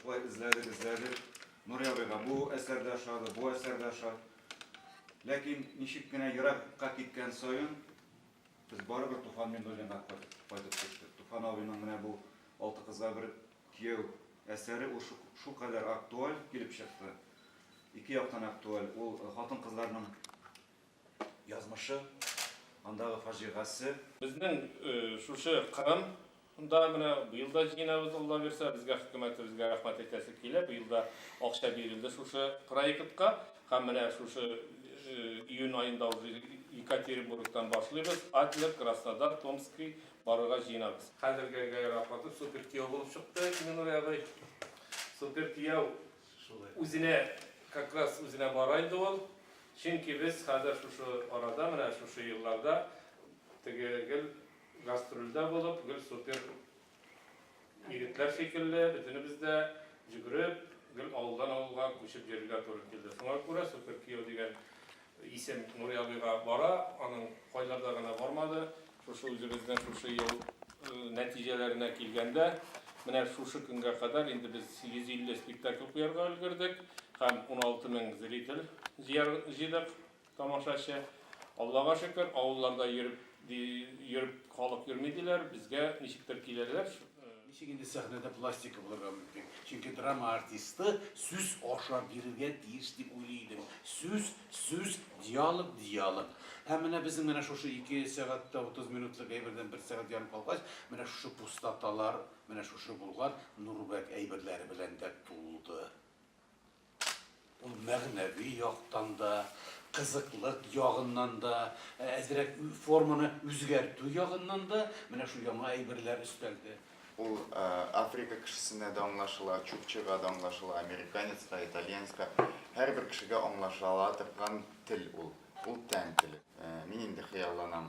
Шулай эзләдек, эзләдек. Нури абыйга бу әсәр дә ошады, бу әсәр дә ошады. Ләкин ничек кенә еракка киткән саен без барыбер Туфан Миннуллинга кайтып төштек. Туфан абыйның менә бу Алты кызга бер кияү әсәре ул шулкадәр актуаль килеп чыкты. Ике яктан актуаль. Ул хатын-кызларның Язмышы, андагы фаҗигасе. Безнең шушы Кырым да менә быел да җыенабыз, Алла бирсә, безгә хөкүмәтебезгә рәхмәт әйтәсе килә. Быел да акча бирелде шушы проектка. Һәм менә шушы июнь аенда уже Екатеринбургтан башлыйбыз, Адлер, Краснодар, Томский барырга җыенабыз. Хәзергә гәрәй рахмәтле, супер кияү булып чыкты, Минур абый. Супер кияү. Үзенә, как раз үзенә бара инде ул. Чөнки без хәзер шушы арада, менә шушы елларда теге гел гастрольдә булып, гел супер егетләр шикелле, бөтенебез дә йөгереп, гел авылдан авылга күчеп йөрергә туры килде. Шуңа күрә супер кияү дигән Исем Нури абыйга бара, аның кайларда гына бармады. Шушы үзебезнең шушы ел нәтиҗәләренә килгәндә, менә шушы көнгә кадәр инде без 150 спектакль куярга өлгердек һәм 16 мең зритель җыйдык, тамашачы. Аллага шөкер, авылларда йөреп, Ди, йөреп халык йөрми диләр, безгә ничектер киләләр. Ничек инде сәхнәдә пластика булырга мөмкин? Чөнки драма артисты сүз аша бирергә тиеш дип уйлый идем. Сүз, сүз, диалог, диалог. Һәм менә безнең менә шушы ике сәгать тә утыз минутлык әйбердән бер сәгать ярым калгач, менә шушы пустоталар, менә шушы булган Нурбәк әйберләре белән дә тулды. Ул мәгънәви яктан да, кызыклык ягыннан да, әзрәк форманы үзгәртү ягыннан да менә шул яңа әйберләр өстәлде. Ул Африка кешесенә дә аңлашыла, чукчага да аңлашыла, американецка, итальянецка, һәрбер кешегә аңлашала торган тел ул. Ул тән теле. Мин инде хыялланам,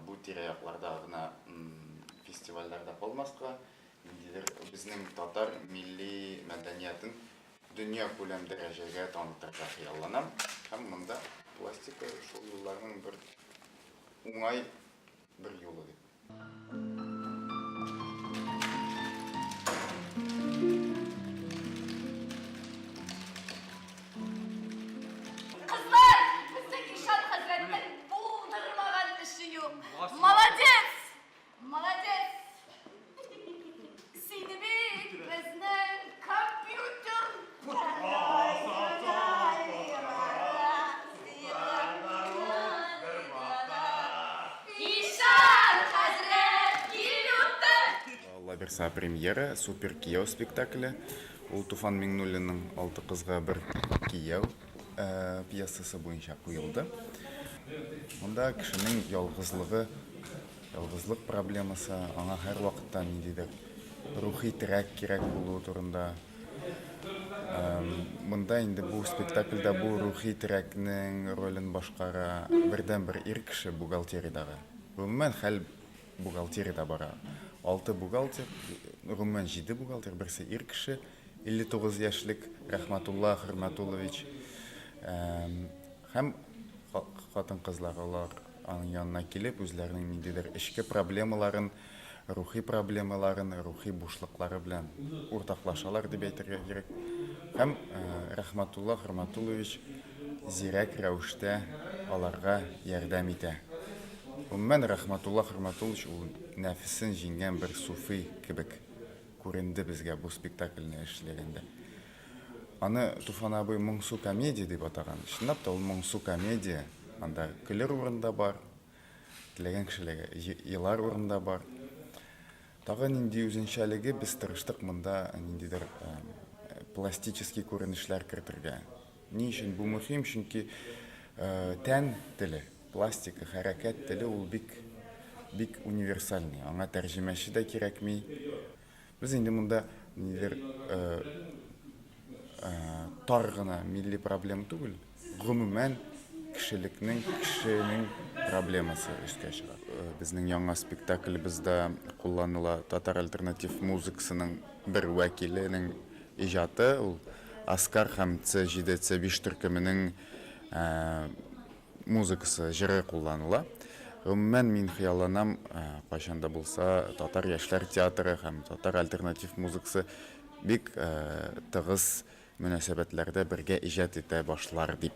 бу тирә-якларда гына фестивальләр дә калмаска, ниндидер безнең татар милли мәдәниятен дөньякүләм дәрәҗәгә танытырга хыялланам һәм монда пластика шул юлларның бер уңай бер юлы дип. Кызлар, безнең Ишан хәзрәтнең булдырмаган эше юк. Молодец! Лаверса премьера, супер кияу спектакле. Ул Туфан Миңнуллинның Алты кызга бер кияу э, пьесасы буенча куелды. Монда кешенең ялгызлыгы Ялгызлык проблемасы, аңа һәрвакытта ниндидер рухи терәк кирәк булуы турында. Монда инде бу спектакльдә бу рухи терәкнең ролен башкара бердәнбер ир кеше бухгалтериядәге. Гомумән хәл бухгалтериядә бара. Алты бухгалтер, гомумән җиде бухгалтер, берсе ир кеше, 59 яшьлек Рәхмәтулла Хөрмәтуллович һәм хатын-кызлар алар. Аның янына килеп, үзләренең ниндидер эчке проблемаларын, рухи проблемаларын, рухи бушлыклары белән уртаклашалар дип әйтергә кирәк. Һәм э, Рахматулла Хөрматуллович зирәк рәвештә аларга ярдәм итә. Гомумән, Рахматулла Хөрматуллович ул нәфесен җиңгән бер суфи кебек күренде безгә бу спектакльне эшләгәндә. Аны Туфан абый Моңсу комедия дип атаган. Чынлап та, ул моңсу комедия. Анда көлер урын да бар, теләгән кешеләр елар урын да бар. Тагы нинди үзенчәлеге, без тырыштык монда ниндидер пластический күренешләр кертергә. Ни өчен бу мөһим? Чөнки тән теле, пластика, хәрәкәт теле ул бик бик универсальный. Аңа тәрҗемәче дә кирәкми. Без инде монда нилер тар гына милли проблем түгел, гомумән кешелекнең, кешенең проблемасы өскә чыга. Безнең яңа спектаклебездә кулланыла татар альтернатив музыкасының бер вәкиленең иҗаты, ул Аскар һәм Ц-җиде, Ц-биш төркеменең музыкасы, җыры кулланыла. Гомумән, мин хыялланам, кайчан да булса татар яшьләр театры һәм татар альтернатив музыкасы бик тыгыз мөнәсәбәтләрдә бергә иҗат итә башлар дип.